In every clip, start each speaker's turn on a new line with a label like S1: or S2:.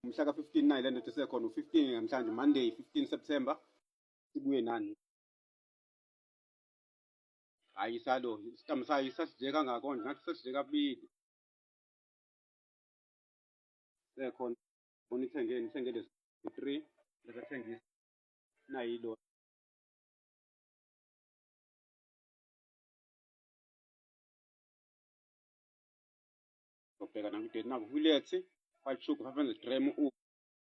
S1: mhla ka-15 nayi le ndoda esekhona u-15 namhlanje monday 15 september sibuye nani hhayi isalo isitamu sayo isasidle kangako nje ngathi sasidle kabili sekhona bona ithengeni ithenge lezi three lezathengisa nayilo ubheka nakudeni naku huletsi white sugar 500 gram u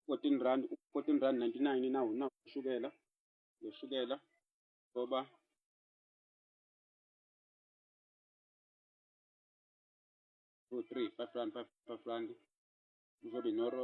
S1: 14 rand 14 rand 99 nawu nawu ushukela ushukela ngoba two three five rand five five rand uzobe noro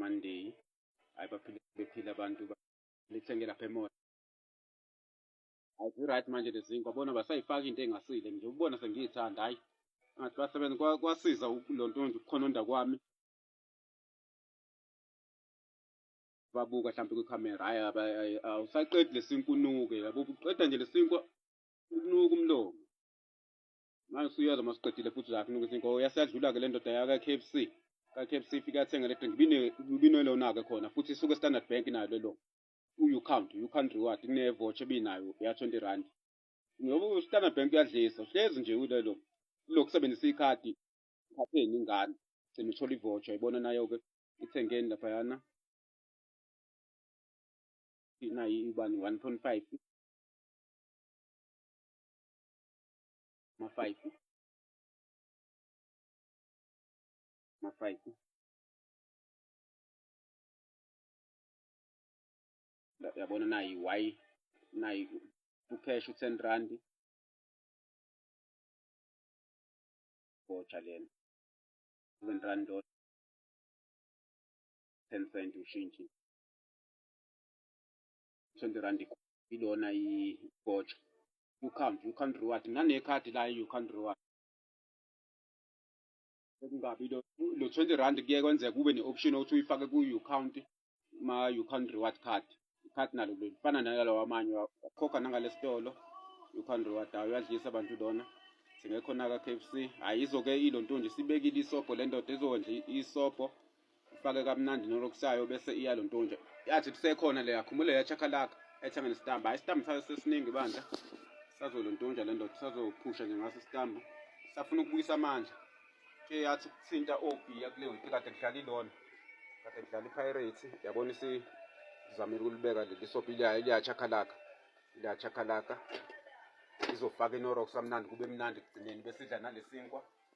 S1: Monday hayi baphile bephile abantu lithenge lapha emall hayi right manje lezinkwa bona basayifaka into engasile nje ubona sengiyithanda hayi ngathi basebenza kwasiza lo nto nje ukukhononda kwami babuka mhlawumbe kwikhamera hayi awusaqedi lesinkunuke yabo uqeda nje lesinkwa ukunuka umlomo manje usuyoza uma siqedile futhi zakhe nokuthi inkowo yasadlula-ke le ndoda yaka-k f c ka-k f c ifike athenga le drink ibinelona-ke khona futhi isuke standard bank nayo lelo u-you count you count reward kunevotsh ebinayo ya-twenty rand ngoba u-standard bank uyadlisa uhlezi nje ulelo ulokhu sebenzisa ikhadi ikhapheni ingane gcina uthola ivotsh ayibona nayo-ke ithengeni laphayana nayi ibani one point five mafaifu mafaifu yabona nayi y nayi ucash u-ten rand botsha lena seven rand dot ten cent ushintshi 20 rand ilona igotsha you can't you can't reward nginekhadi la you can't reward kungabi lo lo 20 rand kuye kwenzeka kube ne-option ukuthi uyifake ku-you count ma you count reward card card nalo lifana nalawa amanye khokha nangalesitolo you count reward awu uyadlisa abantu lona singekhona ka-kfc hhayi izoke ilo nto nje sibekile isobho le ndoda izokwenza isobho ufake kamnandi nolokusayo bese iya lo ntonje yathi kusekhona le yakhumule yachakalaka ethenge nestambu hayi istambu sayo sesiningi bandla sazo lo ntonja le ndoda sazophusha nje ngaso istambu safuna ukubuyisa amandla ke yathi ukuthinta obhiya kule wiki kade kudlala ilona kade kudlala ipirates yabona isizamile ukulibeka leli sobhi liyayo liyachakalaka liyachakalaka izofaka inorox amnandi kube mnandi ekugcineni besidla nalesinkwa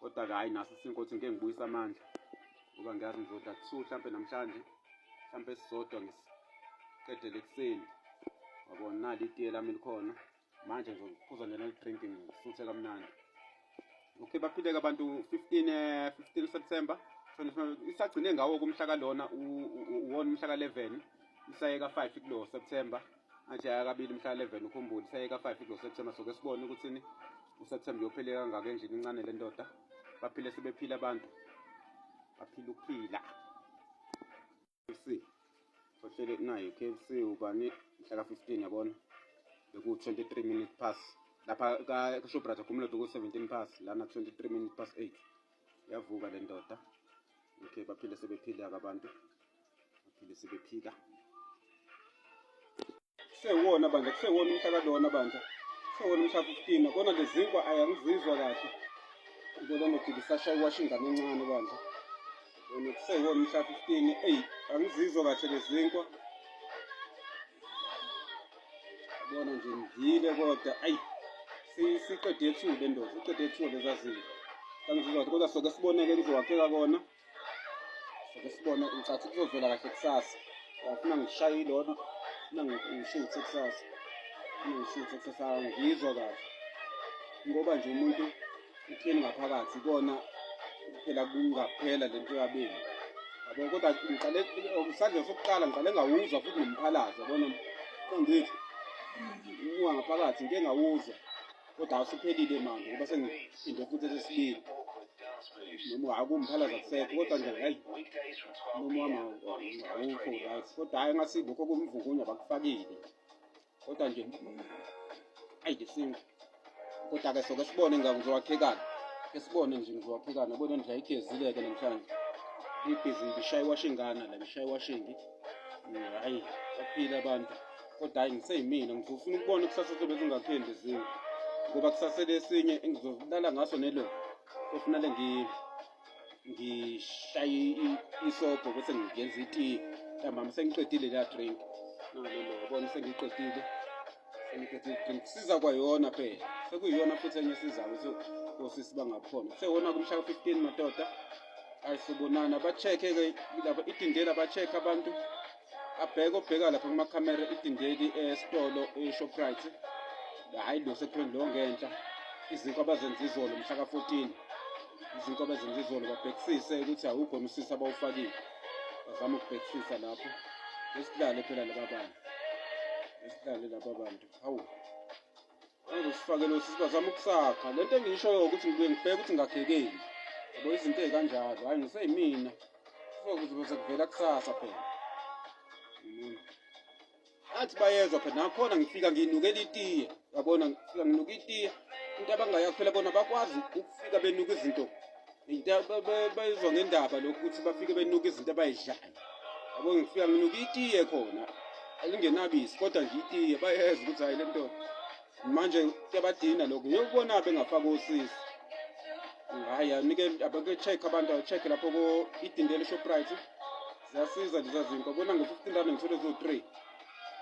S1: kodwa-ke hhayi naso isinkothi ngike ngibuyisa amandla ngoba ngiyazi ngizoda kusu mhlawumpe namhlanje mhlawumpe esisodwa ngisiqedele ekuseni wabona nali itiye lami likhona manje ngizophuza njena lidrink ngisuthe kamnandi okay baphileke abantu 15 15 eh, september isagcine ngawo kumhla kalona uwona umhla ka-11 isayeka 5 kulo september athi yaya kabili mhla 11 ukhumbule seyeka 5 kulo September soke sibone ukuthini uSeptember uyophile kangaka enjini incane le ndoda baphile sebephila abantu baphila ukuphila KFC sohlele nayo KFC ubani mhla ka 15 yabona beku 23 minutes past lapha ka Shoprite akhumula ku 17 past lana 23 minutes past 8 yavuka le ndoda okay baphile sebephila abantu baphinde sebephika kusewona bandla kusewona umhla kalona bandla kusewona umhla 15 kona lezinkwa ayangizizwa kahle ngibona ngothi ngisashaya iwasha ingane encane bandla yona kusewona umhla 15 eyi angizizwa kahle lezinkwa bona nje ngidlile kodwa ayi siqede ethuba endoda siqede ethuba lezazinto angizizwa kahle kodwa soke siboneke kuzowakheka kona Sike sibone ngicathi kuzovela kahle kusasa. Ngifuna ngishaye ilona. Ngifuna ngishuthe kusasa. Ngifuna ngishuthe kusasa ngizwa kahle. Ngoba nje umuntu uthini ngaphakathi kona phela kungaphela lento yabeni. Yabo kodwa ngiqale okusanje sokuqala ngiqale ngawuzwa futhi nomphalaza yabona. Kangithi ungaphakathi ngike ngawuzwa. kodwa awusuphelile manje ngoba sengiphinde futhi esesibili noma akuwumphalaza kusekho kodwa nje hayi noma wami awukho right kodwa hhayi ngathi lokho kumvukunya bakufakile kodwa nje ayi ngesintu kodwa-ke soke sibone ngizowakhekana ke sibone nje ngizowakhekana bona nje ayigezile-ke namhlanje ibhizingi ishaye iwashingana la ishaye iwashingi hhayi baphile abantu kodwa hayi ngiseyimina ngizofuna ukubona kusasa sobe zingaphendi ezinye ngoba kusasele esinye engizolala ngaso nelo kofunale ngishaye isobho bese ngiyenza itiyi ntambama sengiqedile leya drink nalelo yabona sengiqedile sengiqedile drink siza kwayona phela sekuyiyona futhi enye sizayo osisi bangakhona sewona kumsha ka-fifteen madoda ayisibonana ba-check-e ke laba idindela ba-check abantu abheke obheka lapha kumakhamera idindeli esitolo eshoprite hhayi lo sekuthiweni lo ngenhla izinto abazenza izolo mhla ka-14 izinto abazenza izolo babhekisise ukuthi awukhona usisi abawufakile bazama ukubhekisisa lapho esidlale phela laba bantu esidlale laba bantu hawu Angifakele usisi bazama ukusakha. Lento engishoyo ukuthi ngibuye ngibheke ukuthi ngakhekeni. Yabo izinto ezikanjalo. Hayi ngiseyimina. Kuzokuze kuvela kusasa phela. Mm. Athi bayezwa phela nakhona ngifika nginukela itiye. Yabona ngifika nginuka itiye. Into abangayakhela bona bakwazi ukufika benuka izinto into bayizwa ngendaba lokhu ukuthi bafike benuka izinto abayidlayo yabo ngifika nginuka itiye khona alingenabisi kodwa nje itiye bayeza ukuthi hayi le nto manje kuyabadina lokhu ngiyokubona bengafaka osisi hayi anike abake-check abantu acheck lapho idindele shoprite ziyasiza leza zinto bona ngo-fifteen rand ngithole zo-three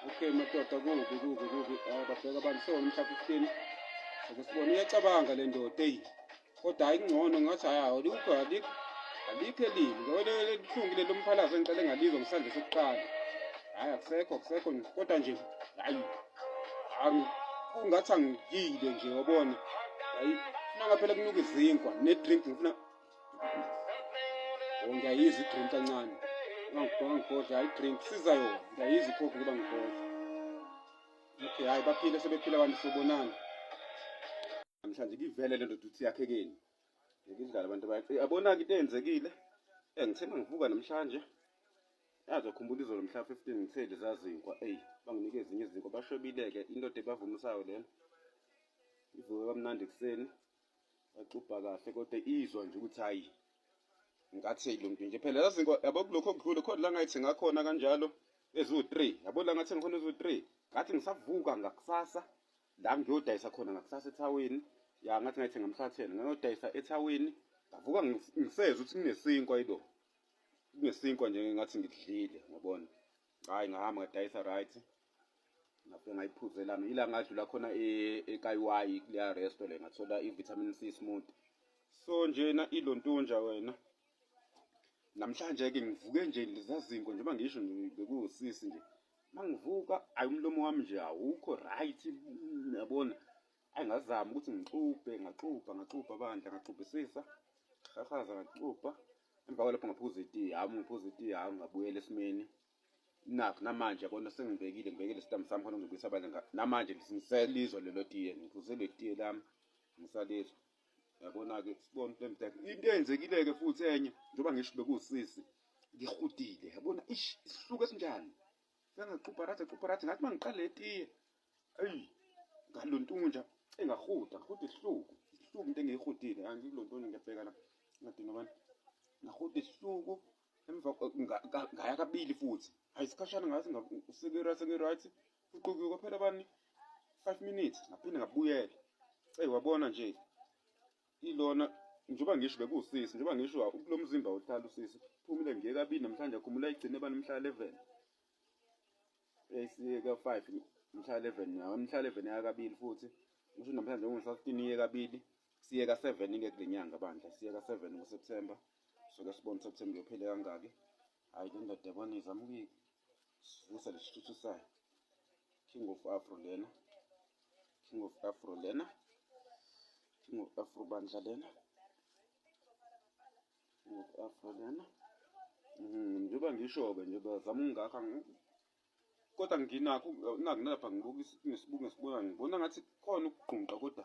S1: okay madoda kubi kubi kubi ah, babheka abantu sewona umhla fifteen ake sibone uyacabanga le ndoda eyi kodwa hayi kungcono ngathi hayi alikho alikho alikho elibi ngoba libuhlungu lelo mphalazo engiqale ngalizwa ngisandle sokuqala hayi akusekho akusekho kodwa nje hayi kungathi angiyile nje wabona hayi funa ngaphela kunuka izinkwa ne-drink ngifuna oh, ngiyayizwa i-drink kancane ngangibhodla hayi i-drink siza yona ngiyayizwa ikhophi kuba ngibhodla okay hayi baphile sebephile abantu sobonana namhlanje kivele lento ukuthi yakhekeni ngidlala abantu bakhe yabonaka into eyenzekile eh ngithe mangivuka namhlanje yazi ukhumbula izolo mhla 15 ngithe lezazinkwa eyi banginike ezinye izinkwa bashobile-ke indoda ebavumisayo lena ivuke kamnandi ekuseni baxubha kahle kodwa izwa nje ukuthi hayi ngathi lo mntu nje phela zazinkwa yabo kulokho okudlule khona la ngayithi ngakhona kanjalo eziwu-3 yabo la ngathi ngikhona eziwu-3 ngathi ngisavuka ngakusasa la ngiyodayisa khona ngakusasa ethawini ya ngathi ngayithenga emhlatheni ngayodayisa ethawini ngavuka ngisezwa ukuthi kunesinkwa ido kunesinkwa nje ngathi ngidlile ngabona hayi ngahamba ngadayisa right ngafike ngayiphuze lami ila ngadlula khona e-, ekayiwayi kuleya resto le ngathola i-vitamin c smooth so njena ilontunja wena namhlanje-ke ngivuke nje lizazinko njengoba ngisho bekuwusisi nje uma ngivuka ayi umlomo wami nje awukho right yabona ayi ngazama ukuthi ngixubhe ngaxubha ngaxubha bandla ngaxubhisisa ngahahaza ngaxubha emva kwalapho ngaphuza itiyi hhamu ngiphuza itiyi hhamu ngabuyela esimeni nakho namanje yabona sengibekile ngibekile isitambu sami khona ngizobuyisa abanye namanje ngiselizwa lelo tiye ngiphuze le tiye lami ngisalizwa yabona-ke sibona into emdaka into eyenzekile-ke futhi enye njengoba ngisho bekusisi ngihudile yabona ish isihluko esinjani sengaxubha rathi axubha rathi ngathi uma ngiqale etiye eyi ngalo ntunja engahuda ngihuda isihluku isihluku into engiyihudile angikulo ntoni ngiyabheka la ngadinga abantu ngahuda isihluku emva ngaya kabili futhi hayi isikhashana ngathi sengirathi Uqhuke kwaphela bani 5 minutes ngaphinde ngabuyela. Ey wabona nje ilona njengoba ngisho bekuwusisi njengoba ngisho kulo mzimba ohlala usisi phumile nje kabili namhlanje akhumula igcine bani mhla 11 esiyeka 5 mhla 11 nawo mhla 11 yaka kabili futhi ngisho namhlanje ngisho 15 iye kabili siyeka 7 ke kule nyanga bandla siyeka 7 ngoSeptember soke sibone September yophele kangaki hayi le ndoda yabona izama ukuyika sivusa lesithuthu sayo king of afro lena king of afro lena king of afro bandla lena king of afro lena mm, njengoba ngisho-ke nje bazama ukungakha kodwa nginakho nakunalapha ngibukisa ngesibungu esibona ngibona ngathi khona ukugqunqa kodwa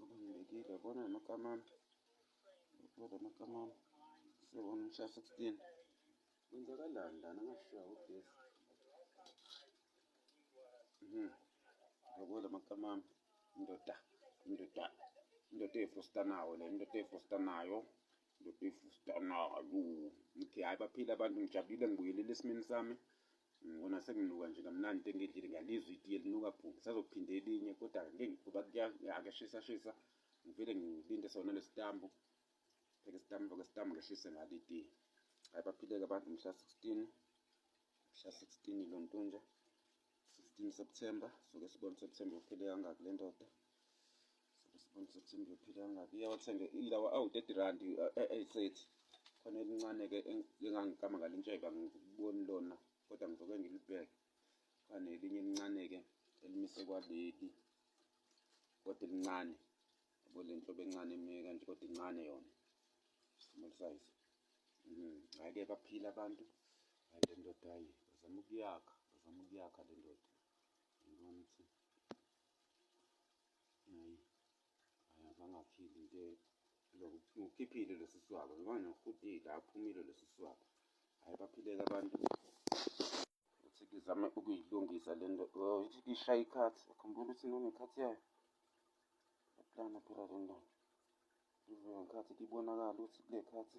S1: Ngiyekile yabona amagama ami. Kodwa amagama ami. Sibona umshaya 16. Kwenzakalani lana ngashiya ugesi. Mhm. Ngiyabona amagama ami. Indoda. Indoda. Indoda efusta nawo le indoda efusta nayo. Indoda efusta nayo. Ngithi hayi baphila abantu ngijabulile ngibuyelele esimeni sami. Ngibona senginuka nje kamnandi into engidlile ngiyalizwa itiye linuka bhu ngisazophinde elinye kodwa ngeke ngoba kuyashisa shisa ngivele ngilinde sona lesitambu pheke sitambu ke sitambu ngehlise ngalo itiye hayi baphileke abantu mhla 16 mhla 16 lo ntonja 16 September soke sibone September uphele kangaki le ndoda Sibona September uphila kangaki iyawathenge ilawa awu 30 rand esethi khona elincane ke engangikama ngalintsheba ngikuboni lona kodwa ngizoke ngilibheke khane elinye elincane ke elimise kwaleli kodwa elincane yabo le nhlobo encane emike kanje kodwa incane yona small size mhm hayi ke baphila abantu hayi le ndoda hayi bazama ukuyakha bazama ukuyakha le ndoda ngibona ukuthi Hayi. Hayi abangaphili nje lo ukhiphile lesi swaba ngoba nohudile aphumile lesi swaba. Hayi baphileke abantu. Uthi ngizame ukuyilungisa le nto. Oh, ithi ngishaya ikhathi. Akhumbula ukuthi nonekhathi yayo. Yaplana phela le nto. Ivuka ngekhathi ibonakala ukuthi kule khathi.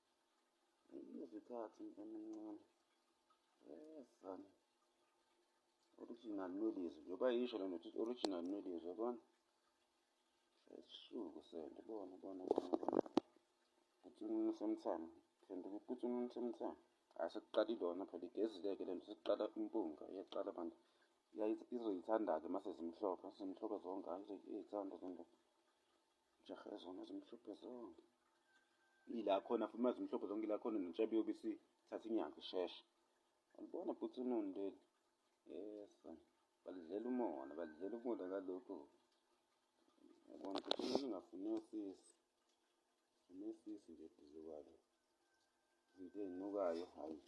S1: Izikhathi emincane. Yesana. Original melodies. Njengoba yisho lento ukuthi original melodies yabona. Sesisuku sento bona bona bona. Kuthi umuntu somthamo. Sento kuthi umuntu somthamo. Asekuqala ilona phela igezileke lento sekuqala impunga iyaqala abantu. Izoyithanda-ke uma sezimhlophe, sezimhlophe zonke, hhayi izoyithanda zonke. Jahe zona zimhlophe zonke. Ila khona futhi mazimhlophe zonke ila khona netshabi yobisi thatha inyanga isheshe. Alibona bhuti unono leli. Yes. Balidlela umona, balidlela ukudla kalokhu. Yabona ukuthi umuntu ungafuni usisi. Funa usisi nje eduze kwalo. Izinto ezinukayo hayi.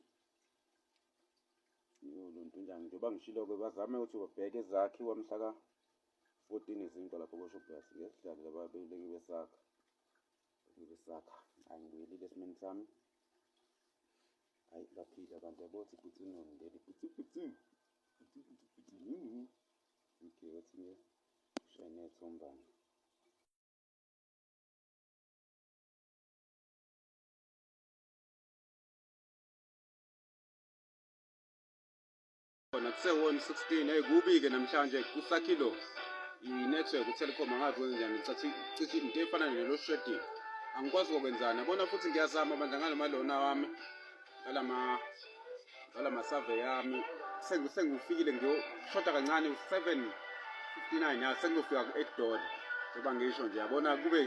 S1: Yoluntu njani njengoba ngishilo-ke bazame ukuthi babheke ezakhiwa mhlaka 14 izinto lapho koShoprite ngesidlalile ababeleki besakha besakha angibuyelile esimeni sami hayi baphile abantu yabothi futhi unongeli futhi futhi futhi futhi futhi yini okay wathi nge shayine thombana khona kusewona 16 hey kubi ke namhlanje kusakhilo i-network utelecom angazi kwenzenjani cathi cithi into efana nelo shredding angikwazi kokwenzana bona futhi ngiyazama bandla ngalamalona wami ngalama ngalama survey yami sengifikile ngiyoshoda kancane u-7 59 ya sengiyofika ku-8 dollar njengoba ngisho nje yabona kube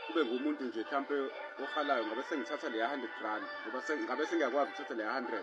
S1: kube ngumuntu nje mhlawumpe ohalayo ngabe sengithatha leya 100 rand ngoba ngabe sengiyakwazi ukuthatha leya 100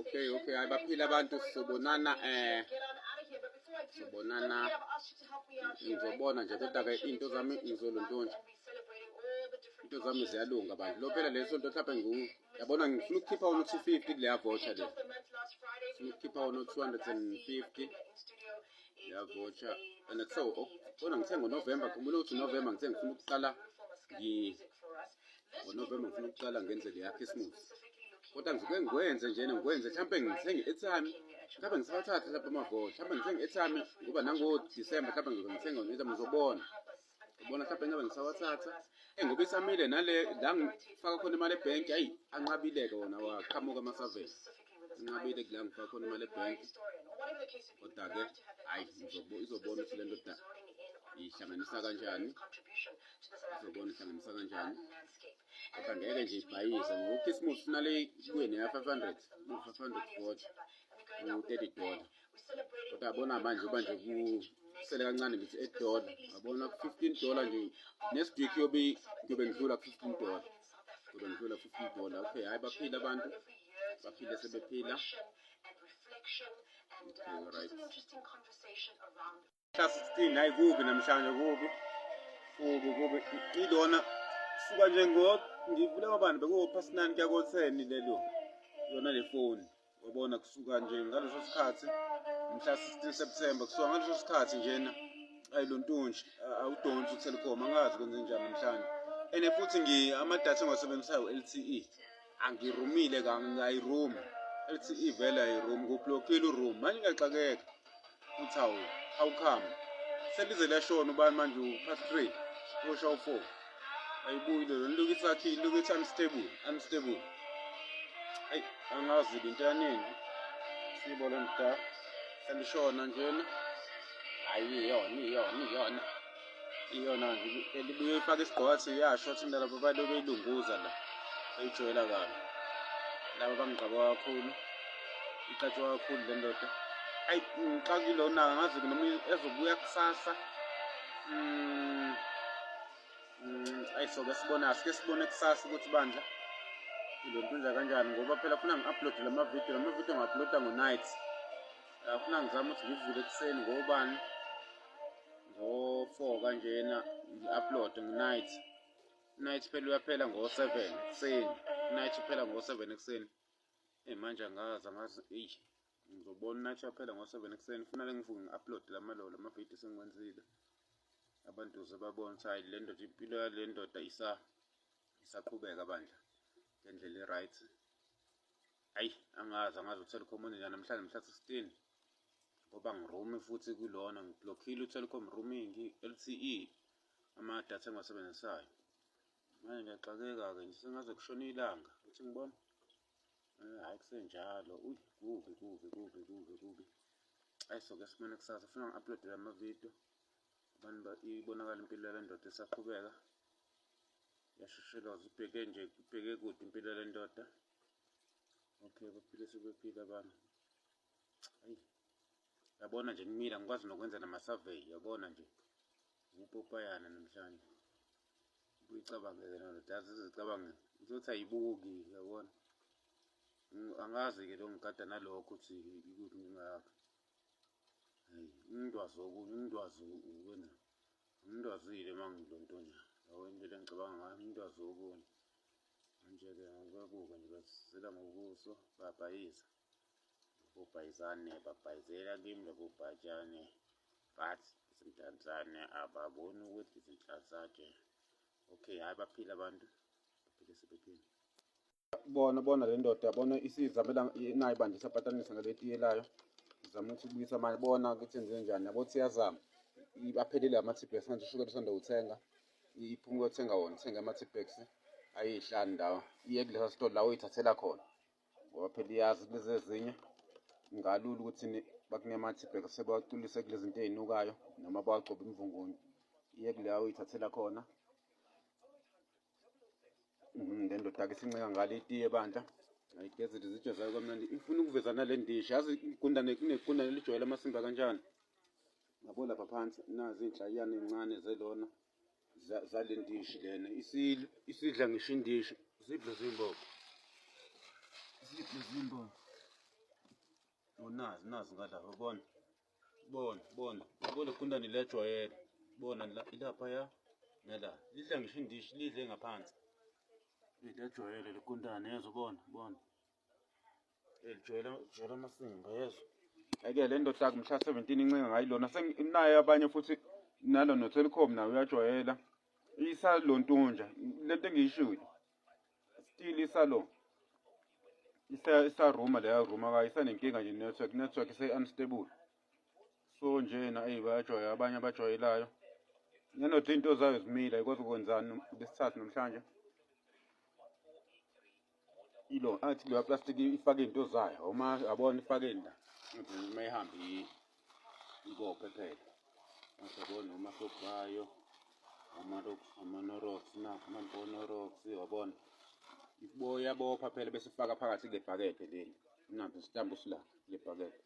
S1: Okay, okay, hayi baphila abantu sobonana eh sobonana ngizobona nje kodwa ke into zami ngizoluntonje into zami ziyalunga bantu lo phela leso nto mhlawumbe ngu yabona ngifuna ukukhipha wona u-250 kuleya voucher le ngifuna ukukhipha wona u-250 yavotha and so oh, kodwa ngithe ngonovemba khumbula ukuthi unovemba ngithe ngifuna ukuqala ngonovemba ngifuna ukuqala ngenze le yakhisimusi kodwa ngisuke ngikwenze njena ngikwenze mhlawumpe ngithenge ethami mhlawumbe ngisawathathe lapha amavoti mhlawumbe ngithenge ethami ngoba nangodisemba mhlawumbe ngizongithenga ngiza ngizobona ubona mhlawumbe ngabe ngisawathatha eyi ngoba isamile nale la ngifaka khona imali ebhenki ayi anqabile-ke wona waqhamuka amasavele anqabile kula ngifaka khona imali ebhenki kodwa-ke hhayi izobona ukuthi le ndoda ihlanganisa kanjani izobona ihlanganisa kanjani kodwa ngeke nje ibhayize ngoba ukhisimusi funale kuye neya-five hundred five hundred forty u-thirty dollar uyabona manje uba nje kusele kancane ngithi eight dollar yabona ku-fifteen dollar nje next week yobe ngiyobe ngidlula ku-fifteen dollar ngiyobe ngidlula ku-fifteen dollar okay hhayi baphile abantu baphile sebephila okay, right. Mhla 16 hayi kubi namhlanje kubi. Kubi kubi ilona suka nje ngo ngivule abantu bekuwo past 9 kuya ko 10 lelo. Yona le phone wabona kusuka nje ngaleso sikhathi mhla 16 September kusuka ngaleso sikhathi njena ayi lo ntunji awudonsi uTelkom angazi kwenze njani namhlanje ene futhi ngi amadatha engiwasebenzisayo LTE angirumile kangayirumi LTE vele ayiroom kublockile uroom manje ngiyaxakeka uthi awu how come selize lashona ubani manje upast three usha u-four ayibuyi lelo nilokhu isathi ilokhu ithi unstable unstable ayi angazi into yanini siyibona mda selishona njena hayi iyona iyona iyona iyona elibuye ifake isigqoko athi uyasho athi mina labo balo beyilunguza la bayijoyela kabi laba bangigqaba kakhulu iqatshwa kakhulu le ndoda ayi ngixakile onaka ngazi noma ezobuya kusasa mm, mm, ayi soke sibona asike sibone kusasa ukuthi bandla le nto inja kanjani ngoba phela funa ngi-uploade la mavidiyo la mavidiyo ngi-uploada ngo-night funa ngizame ukuthi ngivule ekuseni ngobani ngo-four kanjena ngi-upload nginight night phela uyaphela ngo-seven ekuseni night uphela ngo-seven ekuseni eyi manje angazi angazi eyi ngizobona night uyaphela ngo-seven ekuseni kufanele ngivuke ngi-upload lamalolo amavidiyo sengiwenzile abantu ze babone ukuthi hhayi le ndoda impilo yale ndoda isaqhubeka bandla ngendlela i-right ayi angazi angazi uthela ukhomoni njani namhlanje mhla 16 ngoba ngiromi futhi kulona ngiblokhile utelecom roaming LTE ama data engiwasebenzisayo manje ngiyaxakeka-ke nje sengaze kushona ilanga uthi ngibona eh, hhayi kusenjalo uy kubi kubi kubi kubi kubi ayi soke simane kusasa funa ngi-uploadele amavidiyo abantu ibonakala impilo yale ndoda esaqhubeka yashosheloza ibheke nje ibheke kude impilo yale ndoda okay baphile sebephile abantu yabona nje kumile angikwazi nokwenza nama-survey yabona nje ukupopayana namhlanje uyicabangele nalo dazi uzocabange uzothi ayibuki yabona angazi-ke lo ngigada nalokho ukuthi ikuphi inkinga yakhe hayi umntwazi okunye umntwazi ukwenza umntwazile uma ngilo nto nje lawo indlela engicabanga ngayo umntwazi okunye manje-ke ngikuyabuka nje bazisela ngobuso babhayiza ubhayizane babhayizela kimi lobu bhatshane but izinhlanzane ababoni ukuthi izinhlanzane okay hayi baphila abantu baphile sebephile bona bona le ndoda yabona isizamela nayo bandla isapatanisa ngaletiye layo izama ukuthi kubuyisa mali bona ukuthi enze njani yabo ukuthi iyazama aphelile ama-tbex manje ushukela usanda kuthenga iphuma uyothenga wona uthenga ama-tbex ayihlani lawa iye kulesa sitolo la uyithathela khona ngoba phela iyazi lezi ezinye ngalula ukuthi bakunemathi bheka sebawacwilise kule zinto ey'nukayo noma bawagcobe imvungunye iye kuleya uyithathela khona mhm, le ndoda-ke sinceka ngale itiye bandla ayigezile izitsho zayo kamnandi ifuna ukuveza nale ndishi yazi igundane kunegundane lijwayele amasimba kanjani ngabo lapha phansi nazi iy'nhlayiyane ey'ncane zelona zale ndishi lena isidla ngisho indishi zidle zimbobo zidle zimbobo unazi nazi ngalapha bona bona bona bona kunda nilejwayele bona ilapha ya nala lidla ngisho indishi lidle ngaphansi lidla ejwayele likundane yezwa bona bona Elijele jele amasimba yezwa. Eke le ndoda kumhla 17 incenga ngayilona senginaye abanye futhi nalo no Telecom nawe uyajwayela. Isalontunja lento engiyishilo. Still isalo. Isa isa room leya room akayisanenkinga nje network network ise unstable. So nje na ayi bayajwayela abanye abajwayelayo. Nanothi into zayo zimile ayikwazi ukwenzani lesithathu namhlanje. ilo athi leya plastic ifake into zayo uma abona ifake la ngithi uma ihamba ikophe phela mase bona uma sokubayo amarok amanorox na amanorox yabona iboya bopha phela bese ifaka phakathi lebhakede leli nathi sitambu sila lebhakede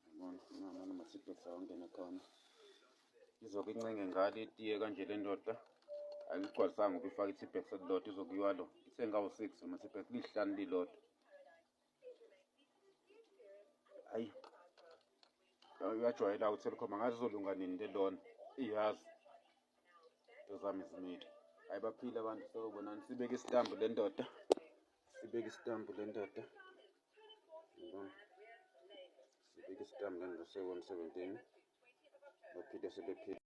S1: Yabona, ngihamba noMathipho sawangena khona. Izoke incenge ngalo itiye kanje le ndoda. Ayigcwalisanga ukuthi ifake i-T-Bex elilodwa izokuyiwa lo. Ithe ngawu-six ama-T-Bex lihlanu lilodwa. Ayi. Uyajwayela uTelkom angazi izolunga nini le lona. Iyazi. Into zami zimile. Hayi baphile abantu sewubonani sibeke isitambu le ndoda. sibeke isitambu le ndoda sibeke isitambu le ndoda sekwemsebenzini baphinde sebephile